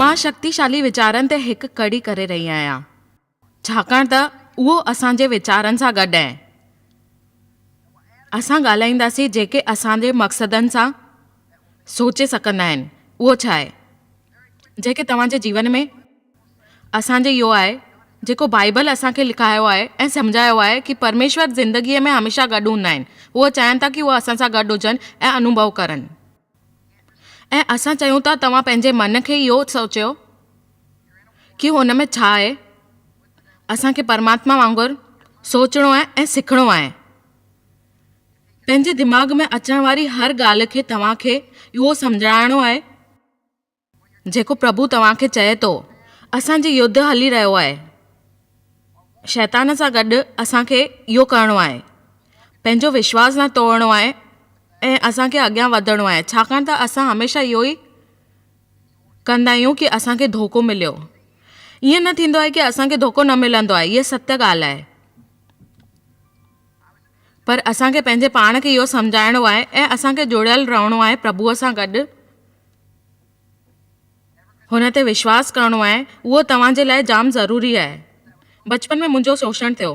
مان شڪتيشالي ويچارن تي هڪ ڪڙي ڪري رهي آهيان، ڇاڪاڻ ته اهو اسان جي ويچارن سان گڏ آهن. اسان ڳالهائينداسين جيڪي اسان جي مقصدن سان سوچي سگهندا آهن، اهو ڇا آهي جيڪي توهان جي جيون ۾. اسان جي اهو آهي جيڪو بائيبل اسان کي لکايو آهي ۽ سمجهايو آهي ڪي پرميشور زندگيء ۾ هميشه گڏ هوندا آهن. هو چاهين ٿا ڪي هو اسان سان گڏ هجن ۽ انوڀو ڪرن. ۽ اسان چيون ٿا توهان پنهنجي من کي اهو سوچيو ڪي هن ۾ ڇا آهي. اسان کي پرماتما وانگر سوچڻو آهي ۽ سکڻو آهي. پنهنجي دماغ ۾ اچڻ واري هر ڳالهه کي توهان کي اهو سمجهاڻو آهي. جيڪو پرڀو توهان کي چئي ٿو. اسان جي يڌ هلي رهيو آهي. شيطان سان گڏ اسان کي اهو ڪرڻو آهي. پنهنجو وشواس نه ٽوڙڻو آهي ۽ اسان کي اڳيان وڌڻو آهي ڇاڪاڻ ته اسان هميشه اهو ئي ڪندا آهيون ڪي اسان کي ڌوڪو مليو. ائين نه ٿيندو آهي ڪي اسان کي ڌوڪو نه ملندو آهي هيء ستيء ڳالهه آهي. پر اسان کي پنهنجي پاڻ کي اهو سمجهائڻو آهي ۽ اسان کي جڙيل رهڻو آهي پرڀوء سان گڏ. هن تي وشواس ڪرڻو آهي اهو توهان جي لاء جام ضروري آهي. بچپن ۾ منهنجو شوشڻ ٿيو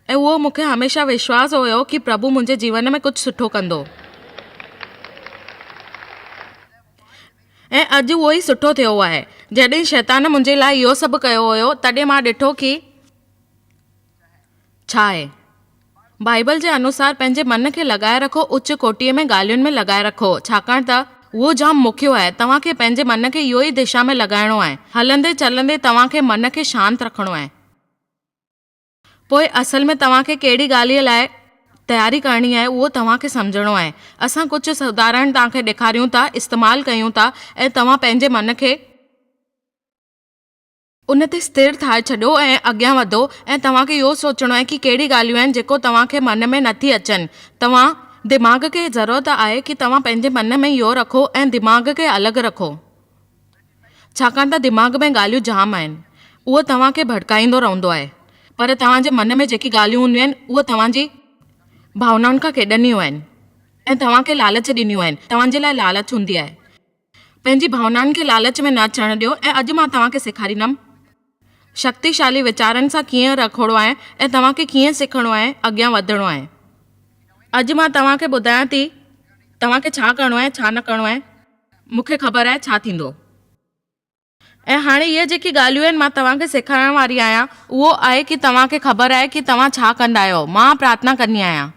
۽ اهو مون کي هميشه وشواس هيو ڪي پرڀو منهنجي جيون ۾ ڪجهه سٺو ڪندو ۽ اڄ اهو ئي سٺو ٿيو آهي. جڏهن شيطان منهنجي لاء اهو سڀ ڪيو هيو تڏهن مان ڏٺو ڪي. ڇا آهي؟ بائيبل جي انوسار پنهنجي من کي لڳائي رکو اچ ڪوٽيء ۾ ڳالهين ۾ لڳائي رکو ڇاڪاڻ ته اهو جام مکيو آهي توهان کي پنهنجي من کي اهو ئي دشا ۾ لڳائڻو آهي هلندي چلندي توهان کي من کي شانت رکڻو آهي پوء اصل ۾ توهان کي ڪهڙي ڳالهيء لاء تياري ڪرڻي آهي اهو توهان کي سمجهڻو آهي اسان ڪجهه سڌارڻ توهان کي ڏيکاريون ٿا استعمال ڪيون ٿا ۽ توهان پنهنجي من کي ان تي استر ٿائي ڇڏيو ۽ اڳيان وڌو ۽ توهان کي اهو سوچڻو آهي ڪي ڪهڙي ڳالهيون آهن جيڪو توهان کي من ۾ نه ٿي اچن توهان دماغ کي ضرورت آهي ڪي توهان پنهنجي من ۾ اهو رکو ۽ دماغ کي الڳ رکو ڇاڪاڻ ته دماغ ۾ ڳالهيون جام آهن اهو توهان کي ڀڙڪائيندو رهندو آهي پر توهان جي من ۾ جيڪي ڳالهيون هونديون آهن اهي توهان جي ڀاونائن کان کيڏنديون آهن ۽ توهان کي لالچ ڏينديون آهن توهان جي لاء لالچ هوندي آهي. پنهنجي ڀاونائن کي لالچ ۾ نه اچڻ ڏيو ۽ اڄ مان توهان کي سيکاريندم شڪتيشالي ويچارن سان ڪيئن رکوڙو آهي ۽ توهان کي ڪيئن سکڻو آهي اڳيان وڌڻو آهي اڄ مان توهان کي ٻڌايان ٿي توهان کي ڇا ڪرڻو آهي ڇا نه ڪرڻو آهي مون کي خبر آهي ڇا ٿيندو. ۽ هاڻي اهي جيڪي ڳالهيون آهن مان توهان کي سيکارڻ واري آهيان اهو آهي ڪي توهان کي خبر آهي ڪي توهان ڇا ڪندا آهيو مان پرارٿنا ڪندي آهيان،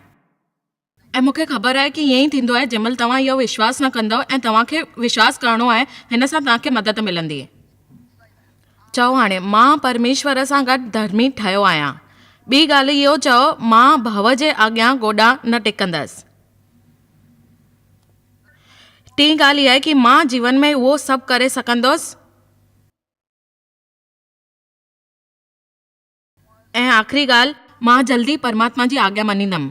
۽ مون کي خبر آهي ڪي ائين ئي ٿيندو آهي جنهن مهل توهان اهو وشواس نه ڪندؤ ۽ توهان کي وشواس ڪرڻو آهي هن سان توهان کي مدد ملندي. چئو هاڻي مان پرميشور سان گڏ ڌرمي ٺهيو آهيان ٻي ڳالهه اهو چئو مان ڀؤ جي آڳيان گوڏا نه ٽيڪندس. ٽين ڳالهه اها ڪي مان جيون ۾ اهو سڀ ڪري سگهندس ۽ آخري ڳالهه مان جلدي پرماتما جي آگيا مڃيندم.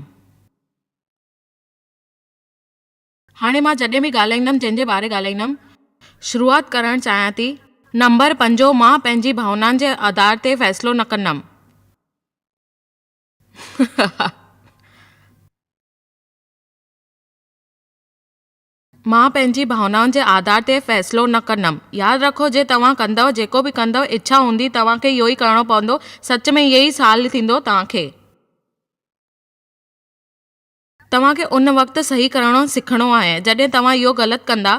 هاڻي مان جڏهن به ڳالهائيندم جنهن جي باري ڳالهائيندم شروعات ڪرڻ چاهيان ٿي. نمبر پنجون مان پنهنجي ڀاونائن جي آڌار تي فيصلو نه ڪندم. مان پنهنجي ڀاونائن جي آڌار تي فيصلو نه ڪندم. ياد رکو جي توهان ڪندؤ جيڪو به ڪندؤ اڇا هوندي توهان کي اهو ئي ڪرڻو پوندو سچ ۾ اهي ئي سال ٿيندو توهان کي. توهان کي ان وقت صحيح ڪرڻو سکڻو آهي جڏهن توهان اهو غلط ڪندا.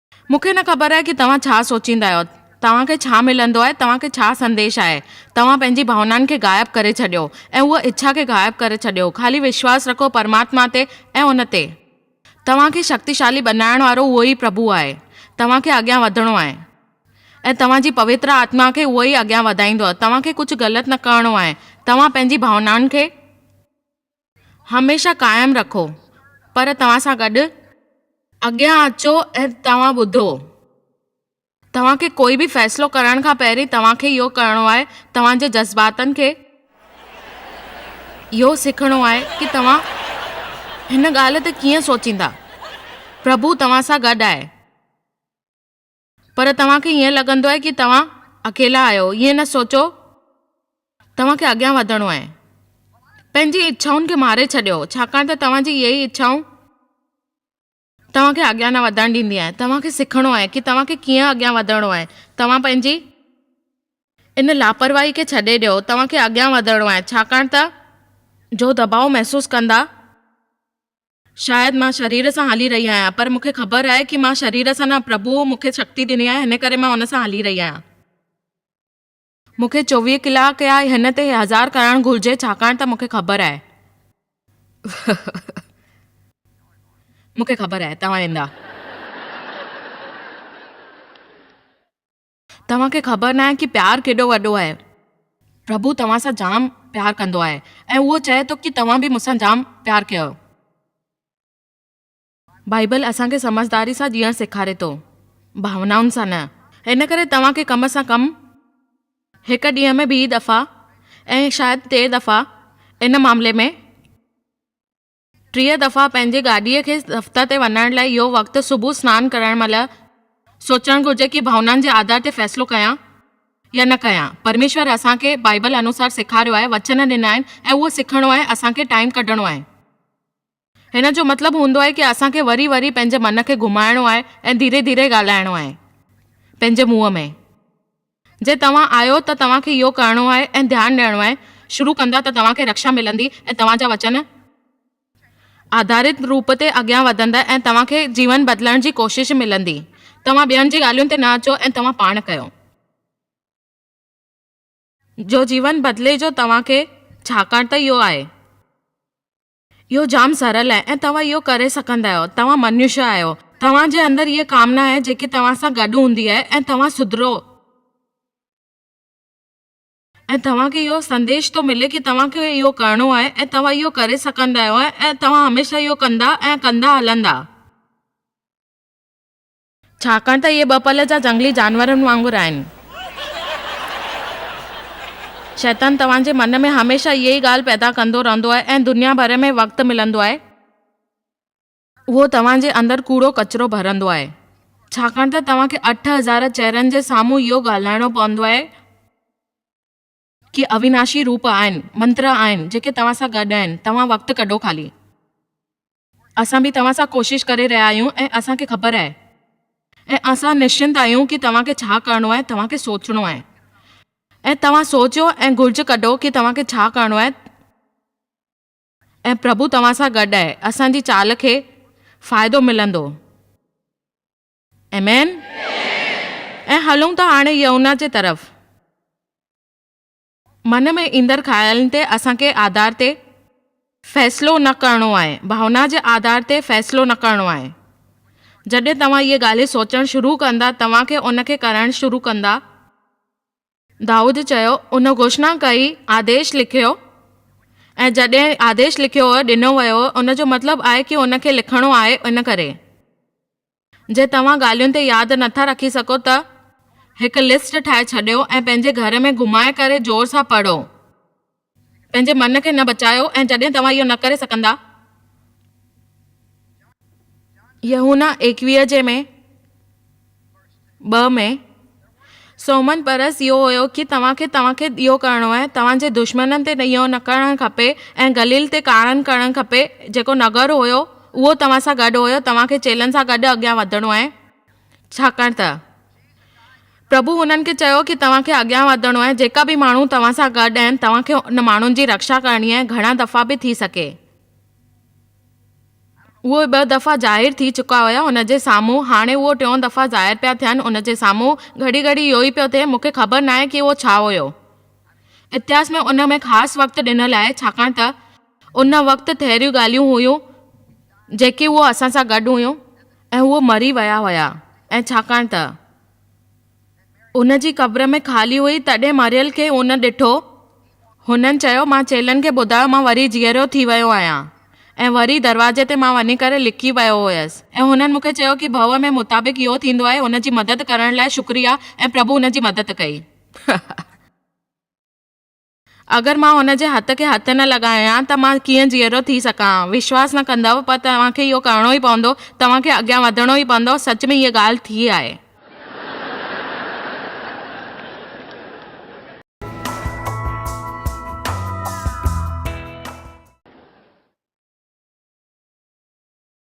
مون کي نه خبر آهي ڪي توهان ڇا سوچيندا آهيو، توهان کي ڇا ملندو آهي، توهان کي ڇا سنديش آهي، توهان پنهنجي ڀاونائن کي غائب ڪري ڇڏيو ۽ اها اڇا کي غائب ڪري ڇڏيو، خالي وشواس رکو پرماتما تي ۽ ان تي. توهان کي شڪتيشالي بنائڻ وارو اهو ئي پرڀو آهي، توهان کي اڳيان وڌڻو آهي ۽ توهان جي پوتر آتما کي اهو ئي اڳيان وڌائيندو، توهان کي ڪجهه غلط نه ڪرڻو آهي، توهان پنهنجي ڀاونائن کي. هميشه قائم رکو پر توهان سان گڏ. اڳيان اچو ۽ توهان ٻڌو. توهان کي ڪوئي به فيصلو ڪرڻ کان پهرين توهان کي اهو ڪرڻو آهي توهان جي جذباتن کي اهو سکڻو آهي ڪي توهان هن ڳالهه تي ڪيئن سوچيندا پرڀو توهان سان گڏ آهي. پر توهان کي ائين لڳندو آهي ڪي توهان اڪيلا آهيو ائين نه سوچو توهان کي اڳيان وڌڻو آهي پنهنجي اڇائن کي ماري ڇڏيو ڇاڪاڻ ته توهان جي اهي ئي اڇائون توهان کي اڳيان نه وڌڻ ڏيندي آهي توهان کي سکڻو آهي ڪي توهان کي ڪيئن اڳيان وڌڻو آهي توهان پنهنجي ان لاپرواهي کي ڇڏي ڏيو توهان کي اڳيان وڌڻو آهي ڇاڪاڻ ته جو دٻاء محسوس ڪندا شايد مان شرير سان هلي رهي آهيان پر مون کي خبر آهي ڪي مان شرير سان نه پرڀوء مون کي شڪتي ڏني آهي هن ڪري مان ان سان هلي رهي آهيان. مون کي چوويهه ڪلاڪ يا هن تي هزار ڪرڻ گهرجي ڇاڪاڻ ته مون کي خبر آهي مون کي خبر آهي توهان ويندا. توهان کي خبر ناهي ڪي پيار ڪيڏو وڏو آهي. پرڀو توهان سان جام پيار ڪندو آهي ۽ اهو چاهي ٿو ڪي توهان به مون سان جام پيار ڪيو. بائيبل اسان کي سمجهداري سان جيئڻ سيکاري ٿو، ڀاونائن سان نه. ان ڪري توهان کي ڪم سان ڪم هڪ ڏينهن ۾ ٻي دفعا ۽ شايد ٽي دفعا ان معاملي ۾ ٽيهه دفعا پنهنجي گاڏيء کي دفتر تي وڃڻ لاء اهو وقت صبح سنان ڪرڻ مهل سوچڻ گهرجي ڪي ڀاونائن جي آڌار تي فيصلو ڪيان يا نه ڪيان؟ پرميشور اسان کي بائيبل انوسار سيکاريو آهي، وچن ڏنا آهن ۽ اهو سکڻو آهي اسان کي ٽائيم ڪڍڻو آهي. هن جو مطلب هوندو آهي ڪي اسان کي وري وري پنهنجي من کي گهمائڻو آهي ۽ ڌيري ڌيري ڳالهائڻو آهي پنهنجي منهن ۾. جي توهان آهيو ته توهان کي اهو ڪرڻو آهي ۽ ڌيان ڏيڻو آهي، شروع ڪندا ته توهان کي رڪشا ملندي ۽ توهان جا وچن، آڌاريت روپ تي اڳيان وڌندا ۽ توهان کي جيون بدلڻ جي ڪوشش ملندي. توهان ٻين جي ڳالهين تي نه اچو ۽ توهان پاڻ ڪيو. جو جيون بدلي جو توهان کي ڇاڪاڻ ته اهو آهي. اهو جام سرل آهي ۽ توهان اهو ڪري سگهندا آهيو. توهان منوشيه آهيو. توهان جي اندر اها ڪامنا آهي جيڪي توهان سان گڏ هوندي آهي ۽ توهان سڌرو. ۽ توهان کي اهو سنديش ٿو ملي ڪي توهان کي اهو ڪرڻو آهي ۽ توهان اهو ڪري سگهندا آهيو ۽ توهان هميشه اهو ڪندا ۽ ڪندا هلندا. ڇاڪاڻ ته اهي ٻه پل جا جهنگلي جانورن وانگر آهن. شيطان توهان جي من ۾ هميشه اها ئي ڳالهه پيدا ڪندو رهندو آهي ۽ دنيا ڀر ۾ وقت ملندو آهي، اهو توهان جي اندر ڪوڙو ڪچرو ڀرندو آهي، ڇاڪاڻ ته توهان کي اٺ هزار چهرن جي سامهون اهو ڳالهائڻو پوندو آهي، ڪي اويناشي روپ آهن، منتر آهن، جيڪي توهان سان گڏ آهن، توهان وقت ڪڍو خالي. اسان به توهان سان ڪوشش ڪري رهيا آهيون ۽ اسان کي خبر آهي. ۽ اسان نشچنت آهيون ڪي توهان کي ڇا ڪرڻو آهي، توهان کي سوچڻو آهي. ۽ توهان سوچيو ۽ گهرج ڪڍو ڪي توهان کي ڇا ڪرڻو آهي ۽ پرڀو توهان سان گڏ آهي، اسان جي چال کي فائدو ملندو. آمين ۽ هلون ٿا هاڻي يهونا جي طرف. من ۾ ايندڙ خيالن تي اسان کي آڌار تي فيصلو نه ڪرڻو آهي، ڀاونا جي آڌار تي فيصلو نه ڪرڻو آهي. جڏهن توهان اهي ڳالهين سوچڻ شروع ڪندا توهان کي ان کي ڪرڻ شروع ڪندا. دائود چيو، ان گهوشنا ڪئي، آديش لکيو ۽ جڏهن آديش لکيو هو، ڏنو ويو هو، ان جو مطلب آهي ڪي ان کي لکڻو آهي، ان ڪري جي توهان ڳالهين تي ياد نه ٿا رکي سگهو ته هڪ لسٽ ٺاهي ڇڏيو ۽ پنهنجي گهر ۾ گهمائي ڪري زور سان پڙهو. پنهنجي من کي نه بچايو ۽ جڏهن توهان اهو نه ڪري سگهندا. يحنا ايڪويهه جي ۾ ٻه ۾ سومهن پرس اهو هيو ڪي توهان کي توهان کي اهو ڪرڻو آهي توهان جي دشمنن تي اهو نه ڪرڻ کپي ۽ گليل تي ڪارڻ ڪرڻ کپي جيڪو نگر هيو اهو توهان سان گڏ هيو توهان کي چيلن سان گڏ اڳيان وڌڻو آهي ڇاڪاڻ ته پرڀو هنن کي چيو ڪي توهان کي اڳيان وڌڻو آهي جيڪا به ماڻهو توهان سان گڏ آهن توهان کي ان ماڻهن جي رڪشا ڪرڻي آهي گهڻا دفعا به ٿي سگهي اهي ٻه دفعا ظاهر ٿي چڪا هيا هن جي سامهون هاڻي اهي ٽيون دفعا ظاهر پيا ٿين ان جي سامهون گهڙي گهڙي اهو ئي پيو ٿئي مون کي خبر ناهي ڪي اهو ڇا هيو اتهاس ۾ ان ۾ خاص وقت ڏنل آهي ڇاڪاڻ ته ان وقت تهڙيون ڳالهيون هيون جيڪي هو اسان سان گڏ هيون ۽ هو مري ويا هيا ۽ ڇاڪاڻ ته هن جي قبر ۾ خالي هئي تڏهن مريل کي هن ڏٺو هن چيو مان چيلن کي ٻڌايو مان وري جيئرو ٿي ويو آهيان ۽ وري دروازي تي مان وڃي ڪري لڪي ويو هيس ۽ هنن مونکي چيو ڪي ڀو ۾ مطابق اهو ٿيندو آهي هن جي مدد ڪرڻ لاء شڪريا ۽ پرڀو هن جي مدد ڪئي. اگر مان هن جي هٿ کي هٿ نه لڳايان ته مان ڪيئن جيئرو ٿي سگهان ها. وشواس نه ڪندؤ پر توهان کي اهو ڪرڻو ئي پوندو. توهان کي اڳيان وڌڻو ئي پوندو. سچ ۾ اها ڳالهه ٿي آهي.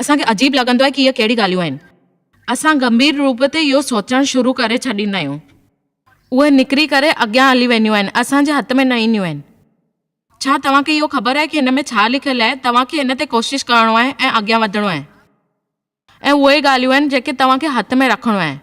اسان کي عجيب لڳندو آهي ڪي اهي ڪهڙي ڳالهيون آهن. اسان گنڀير روپ تي اهو سوچڻ شروع ڪري ڇڏيندا آهيون. اهي نڪري ڪري اڳيان هلي وينديون آهن، اسان جي هٿ ۾ نه اينديون آهن. ڇا توهان کي اهو خبر آهي ڪي هن ۾ ڇا لکيل آهي؟ توهان کي هن تي ڪوشش ڪرڻو آهي ۽ اڳيان وڌڻو آهي. اهي اهي ڳالهيون آهن جيڪي توهان کي هٿ ۾ رکڻيون آهن.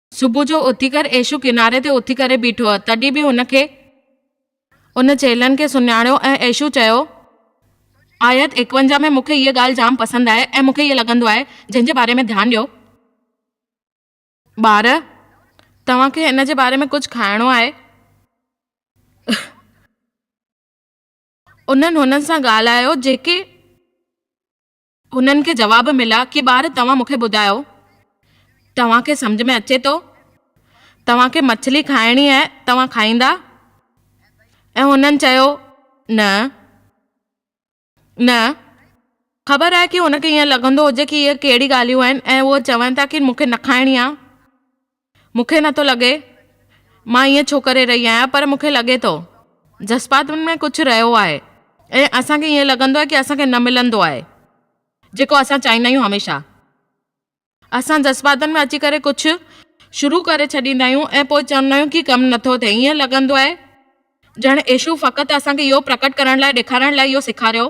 صبح جو اٿي ڪر ايشو ڪناري تي اٿي ڪري بيٺو هو تڏهن به هن کي ان چيلهن کي سڃاڻيو ۽ ايشو چيو. آيت ايڪونجاهه ۾ مون کي هيء ڳالهه جام پسند آهي ۽ مون کي هيء لڳندو آهي جنهن جي باري ۾ ڌيان ڏيو. ٻار، توهان کي ان جي باري ۾ ڪجهه کائڻو آهي؟ انهن هنن سان ڳالهايو جيڪي. انهن کي جواب مليا ڪي ٻار توهان مونکي ٻڌايو توهان کي سمجهه ۾ اچي ٿو توهان کي مڇلي کائڻي آهي توهان کائيندا ۽ هنن چيو نه نه خبر آهي ڪي هن کي ائين لڳندو هجي ڪي اهي ڪهڙي ڳالهيون آهن ۽ هو چون ٿا ڪي مونکي نه کائڻي آهي مون کي نٿو لڳي مان ائين ڇو ڪري رهي آهيان پر مون کي لڳي ٿو. جذباتن ۾ ڪجهه رهيو آهي ۽ اسان کي ائين لڳندو آهي ڪي اسان کي نه ملندو آهي جيڪو اسان چاهيندا آهيون هميشه اسان جذباتن ۾ اچي ڪري ڪجهه شروع ڪري ڇڏيندا آهيون ۽ پوء چوندا آهيون ڪي ڪم نٿو ٿئي ائين لڳندو آهي ڄڻ ايشو فقط اسان کي اهو پرڪٽ ڪرڻ لاء ڏيکارڻ لاء اهو سيکاريو.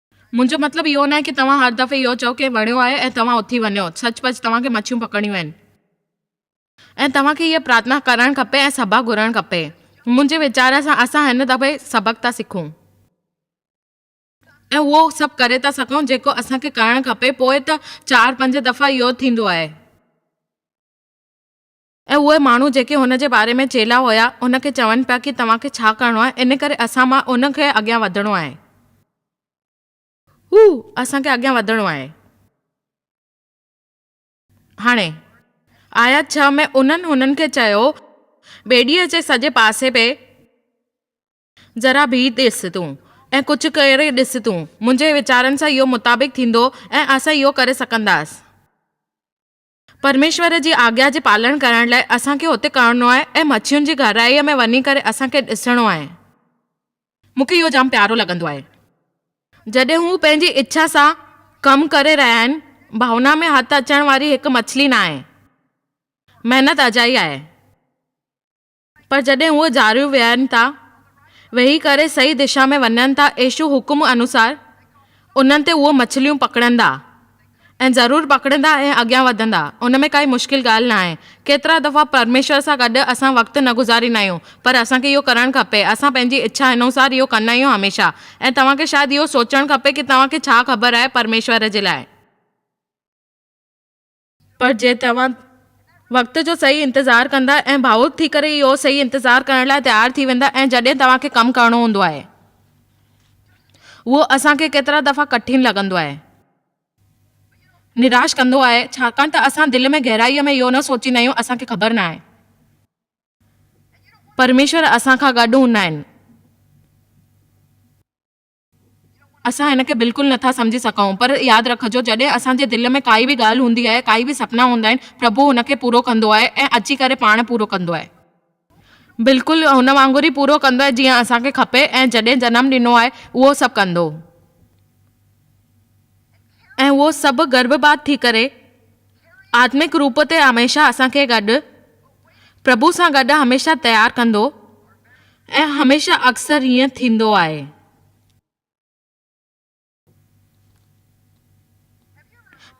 منهنجو مطلب اهو ناهي ڪي توهان هر دفعي اهو چئو ڪي وڻيو آهي ۽ توهان اٿي وڃو سچ پچ توهان کي مڇيون پڪڙڻيون آهن ۽ توهان کي هيء پرارٿنا ڪرڻ کپي ۽ سبق گهرڻ کپي منهنجي ويچار سان اسان هن دفعي سبق ٿا سکون ۽ اهو سڀ ڪري ٿا سگهون جيڪو اسان کي ڪرڻ کپي پوء ته چار پنج دفعا اهو ٿيندو آهي. ۽ اهي ماڻهو جيڪي هن جي باري ۾ چيلا هيا هن کي چون پيا ڪي توهان کي ڇا ڪرڻو آهي ان ڪري اسان مان ان کي اڳيان وڌڻو آهي هو اسان کي اڳيان وڌڻو آهي هاڻي. آيت ڇهه ۾ انهن هنن کي چيو ٻيڙيء جي سڄي پاسي پئي ذرا بيهي ڏس تون ۽ ڪجهه ڪري ڏس تون منهنجي ويچارن سان اهو مطابق ٿيندو ۽ اسان اهو ڪري سگهنداسين. پرميشور جي آگيا جي پالڻ ڪرڻ لاء اسان کي اتي ڪرڻو آهي ۽ مڇين جي گهرائيء ۾ وڃي ڪري اسان کي ڏسڻو آهي. مون کي اهو جام پيارو لڳندو آهي. جڏهن هو پنهنجي اڇا سان ڪم ڪري رهيا آهن. ڀائونا ۾ هٿ اچڻ واري هڪ مڇلي ناهي. محنت اجائي آهي. پر جڏهن هو جاريون ويهن ٿا، ويهي ڪري صحيح دشا ۾ وڃن ٿا ايشو حڪم انوسار انهن تي اهو مڇليون پڪڙندا ۽ ضرور پڪڙندا ۽ اڳيان وڌندا ان ۾ ڪائي مشڪل ڳالهه ناهي ڪيترا دفعا پرميشور سان گڏ اسان وقت نه گذاريندا آهيون پر اسان کي اهو ڪرڻ کپي اسان پنهنجي اڇا انوسار اهو ڪندا آهيون هميشه ۽ توهان کي شايد اهو سوچڻ کپي ڪي توهان کي ڇا خبر آهي پرميشور جي لاء پر جي توهان وقت جو صحيح انتظار ڪندا ۽ ڀاوڪ ٿي ڪري اهو صحيح انتظار ڪرڻ لاء تيار ٿي ويندا ۽ جڏهن توهان کي ڪم ڪرڻو هوندو آهي اهو اسان کي ڪيترا دفعا ڪٺن لڳندو آهي ۽ نراش ڪندو آهي ڇاڪاڻ ته اسان دل ۾ گهرائيء ۾ اهو نه سوچيندا آهيون اسان کي خبر ناهي ته پرميشور اسان کان گڏ هوندا آهن. اسان هن کي بلڪل نه ٿا سمجهي سگهون، پر ياد رکجو جڏهن اسان جي دل ۾ ڪائي به ڳالهه هوندي آهي، ڪائي به سپنا هوندا آهن، پرڀو ان کي پورو ڪندو آهي ۽ اچي ڪري پاڻ پورو ڪندو آهي. بلڪل هن وانگر ئي پورو ڪندو آهي جيئن اسان کي کپي ۽ جڏهن جنم ڏنو آهي اهو سڀ ڪندو ۽ اهو سڀ گرڀ بعد ٿي ڪري. آتمڪ روپ تي هميشه اسان کي گڏ، پرڀو سان گڏ هميشه تيار ڪندو ۽ هميشه اڪثر هيئن ٿيندو آهي.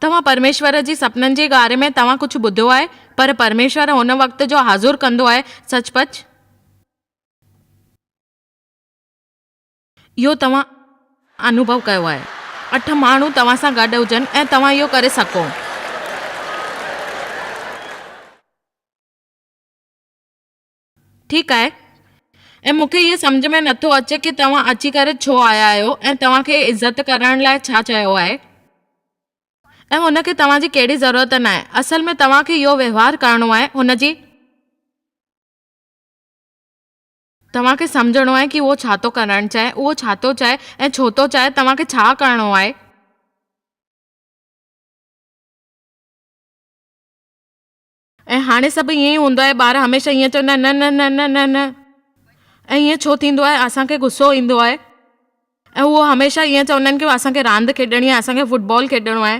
توهان پرميشور جي سپنن جي ڳاري ۾ توهان ڪجهه ٻڌو آهي پر پرميشور هن وقت جو حاضر ڪندو آهي سچ پچ. اهو توهان انوڀو ڪيو آهي. اٺ ماڻهو توهان سان گڏ هجن ۽ توهان اهو ڪري سگهو. ٺيڪ آهي. ۽ مون کي اهو سمجهه ۾ نٿو اچي ڪي توهان اچي ڪري ڇو آيا آهيو ۽ توهان کي عزت ڪرڻ لاء ڇا چيو آهي ۽ هن کي توهان جي ڪهڙي ضرورت ناهي. اصل ۾ توهان کي اهو وهنوار ڪرڻو آهي هن جي. توهان کي سمجهڻو آهي ڪي اهو ڇا ٿو ڪرڻ چاهي، اهو ڇا ٿو چاهي ۽ ڇو ٿو چاهي، توهان کي ڇا ڪرڻو آهي. ۽ هاڻي سڀ ائين ئي هوندو آهي، ٻار هميشه ائين چوندا آهن، نه نه نه نه نه نه. ۽ ائين ڇو ٿيندو آهي، اسان کي غصو ايندو آهي. ۽ هو هميشه ائين چوندا آهن ڪي اسان کي راند کيڏڻي آهي، اسان کي فٽبال کيڏڻو آهي.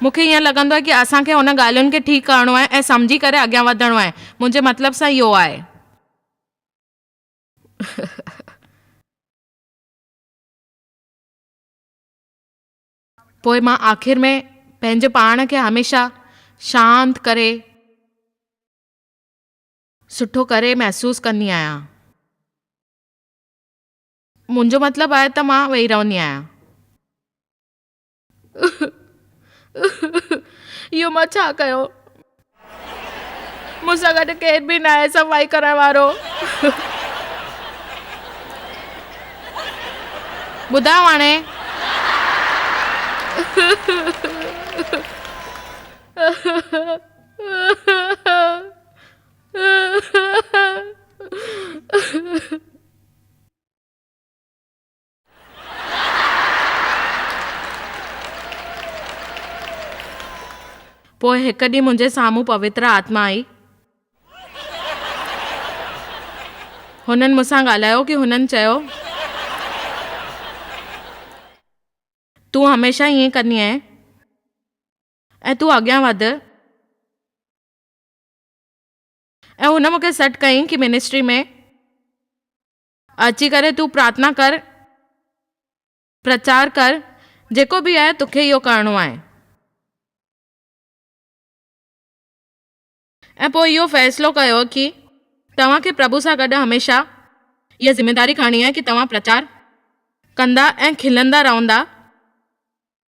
مون کي ائين لڳندو آهي ڪي اسان کي هن ڳالهين کي ٺيڪ ڪرڻو آهي ۽ سمجهي ڪري اڳيان وڌڻو آهي. منهنجي مطلب سان اهو آهي. پوء مان آخر ۾ پنهنجي پاڻ کي هميشه شانت ڪري سٺو ڪري محسوس ڪندي آهيان. منهنجو مطلب آهي ته مان ويهي رهندي آهيان. اهو مان ڇا ڪيو؟ مون سان گڏ ڪير به ناهي صفائي ڪرڻ وارو. ٻڌاء هاڻي. پوء هڪ ڏينهن منهنجي سامهون پوتر آتما آئي. هنن مون سان ڳالهايو ڪي هنن چيو، تون هميشه ائين ڪندي آهين ۽ تون اڳيان وڌ ۽ هن مون کي سڏ ڪيائين ڪي منسٽري ۾ اچي ڪري تون پرارٿنا ڪر، پرچار ڪر، جيڪو به آهي توکي اهو ڪرڻو آهي. ۽ پوء اهو فيصلو ڪيو ڪي توهان کي پرڀو سان گڏ هميشه اها ذميداري کڻڻي آهي ڪي توهان پرچار ڪندا ۽ کلندا رهندا.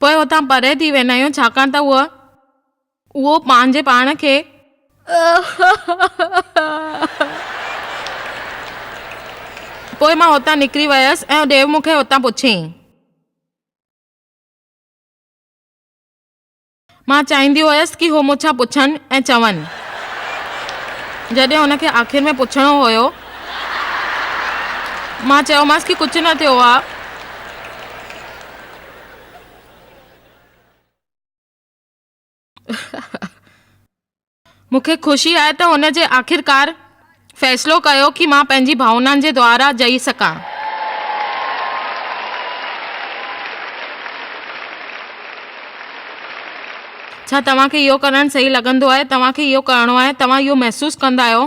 پوء اتان پري ٿي ويندا آهيون ڇاڪاڻ ته اهو اهو پنهنجي پاڻ کي پوء مان اتان نڪري ويس ۽ ڏيو مون کي اتان پڇيائين. مان چاهيندي هيس ڪي هو مون ڇا پڇن ۽ چون. جڏهن هن کي آخر ۾ پڇڻو هيو، مان چيومانس ڪي ڪجهه نه ٿيو آ. مون کي خوشي آهي ته هن جي آخرڪار فيصلو ڪيو ڪي مان پنهنجي ڀاونائن جي دوارا جئي سگهان. ڇا توهان کي اهو ڪرڻ صحيح لڳندو آهي؟ توهان کي اهو ڪرڻو آهي؟ توهان اهو محسوس ڪندا آهيو؟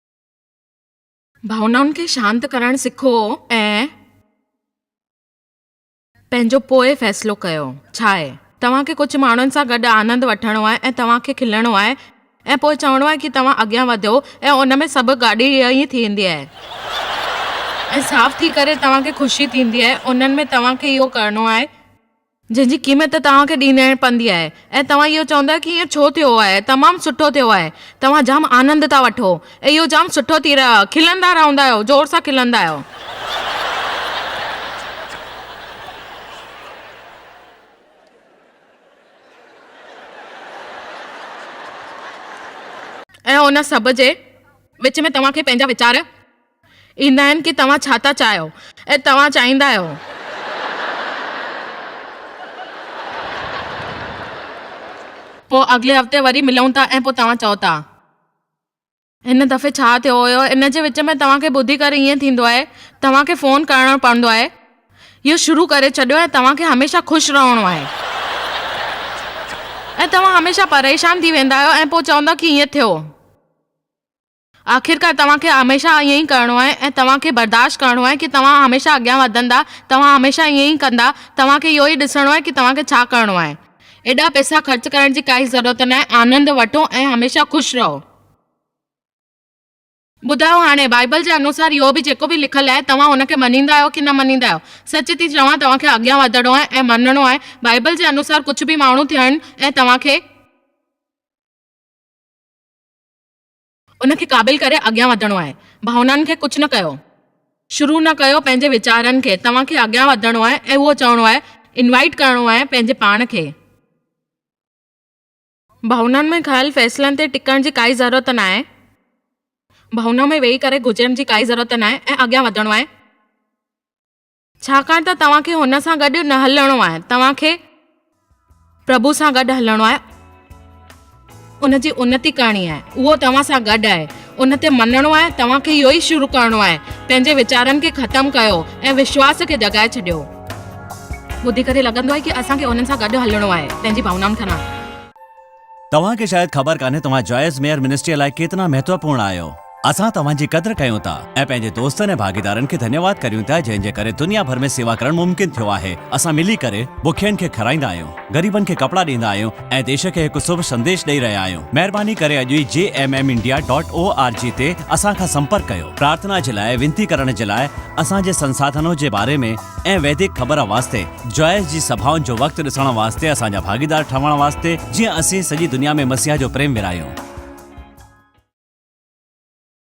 ڀاونائن کي شانت ڪرڻ سکو ۽ پنهنجو پوء فيصلو ڪيو. ڇاهي توهان کي ڪجهه ماڻهن سان گڏ آنند وٺڻو آهي ۽ توهان کي کلڻو آهي ۽ پوء چوڻو آهي ڪي توهان اڳيان وڌيو ۽ ان ۾ سڀ گاڏي ئي ٿيندي آهي ۽ صاف ٿي ڪري توهان کي خوشي ٿيندي آهي انهن ۾ توهان کي اهو ڪرڻو آهي. جنهن جي قيمت توهان کي ڏيڻي پوندي آهي ۽ توهان اهو چوندا ڪي ائين ڇو ٿيو آهي تمام سٺو ٿيو آهي توهان جام آنند ٿا وٺو اهو جام سٺو ٿي رهيو آهي کلندا رهندا آهيو زور سان کلندا آهيو. ۽ ان سڀ جي وچ ۾ توهان کي پنهنجا ويچار. ايندا آهن ڪي توهان ڇا ٿا چاهيو ۽ توهان چاهيندا آهيو. پوء اڳلي هفتي وري ملون ٿا ۽ پوء توهان چئو ٿا. هن دفعي ڇا ٿيو هيو ان جي وچ ۾ توهان کي ٻڌي ڪري ائين ٿيندو آهي توهان کي فون ڪرڻو پوندو آهي اهو شروع ڪري ڇڏيو ۽ توهان کي هميشه خوش رهڻو آهي ۽ توهان هميشه پريشان ٿي ويندا آهيو ۽ پوء چوندا ڪي ائين ٿيو. آخرڪار توهان کي هميشه ائين ئي ڪرڻو آهي ۽ توهان کي برداشت ڪرڻو آهي ڪي توهان هميشه اڳيان وڌندا، توهان هميشه ائين ئي ڪندا، توهان کي اهو ئي ڏسڻو آهي ڪي توهان کي ڇا ڪرڻو آهي. ايڏا پئسا خرچ ڪرڻ جي ڪائي ضرورت ناهي، آنند وٺو ۽ هميشه خوش رهو. ٻڌايو هاڻي بائيبل جي انوسار اهو به جيڪو به لکيل آهي توهان ان کي مڃيندا آهيو ڪي نه مڃيندا آهيو؟ سچ ٿي چوان توهان کي اڳيان وڌڻو آهي ۽ مڃڻو آهي بائيبل جي انوسار ڪجهه به ماڻهو ٿين ۽ توهان کي ان کي قابل ڪري اڳيان وڌڻو آهي. ڀاونائن کي ڪجهه نه ڪيو. شروع نه ڪيو پنهنجي ويچارن کي. توهان کي اڳيان وڌڻو آهي ۽ اهو چوڻو آهي، انوائيٽ ڪرڻو آهي پنهنجي پاڻ کي. ڀاونائن ۾ کنيل فيصلن تي ٽڪڻ جي ڪائي ضرورت ناهي. ڀاونا ۾ ويهي ڪري گذرڻ جي ڪائي ضرورت ناهي ۽ اڳيان وڌڻو آهي. ڇاڪاڻ ته توهان کي هن سان گڏ نه هلڻو آهي توهان کي پرڀو سان گڏ هلڻو آهي ان جي انتي ڪرڻي آهي اهو توهان سان گڏ آهي ان تي مڃڻو آهي توهان کي اهو ئي شروع ڪرڻو آهي پنهنجي ويچارن کي ختم ڪيو ۽ وشواس کي جڳائي ڇڏيو ٻڌي ڪري لڳندو آهي ڪي اسان کي انهن سان گڏ هلڻو آهي پنهنجي ڀاونائن کان نه توهان کي شايد خبر ڪانهي توهان جائز ميئر منسٽريء لاء ڪيتنا مهتوپورڻ آهيو. اسان توهان جي قدر ڪيون ٿا ۽ پنهنجي دوستن ۽ ڀاڳيدارن کي ڌنيواد ڪريون ٿا جنهن جي ڪري دنيا ڀر ۾ سيوا ڪرڻ ممڪن ٿيو آهي. اسان ملي ڪري بکين کي کارائيندا آهيون، غريبن کي ڪپڙا ڏيندا آهيون ۽ ديش کي هڪ سڀ سنديش ڏئي رهيا آهيون. مهرباني ڪري اڄ ئي G M M India dot O R G تي اسان کان سمپرڪ ڪيو. پرارٿنا جي لاء، وينتي ڪرڻ جي لاء، اسان جي سنساڌنو جي باري ۾، ۽ ويدڪ خبر واسطي جوائس جي سڀائن جو وقت ڏسڻ واسطي اسان جا ڀاڳيدار ٺهڻ واسطي جيئن اسين سڄي دنيا ۾ مسيح جو پريم ورهايون.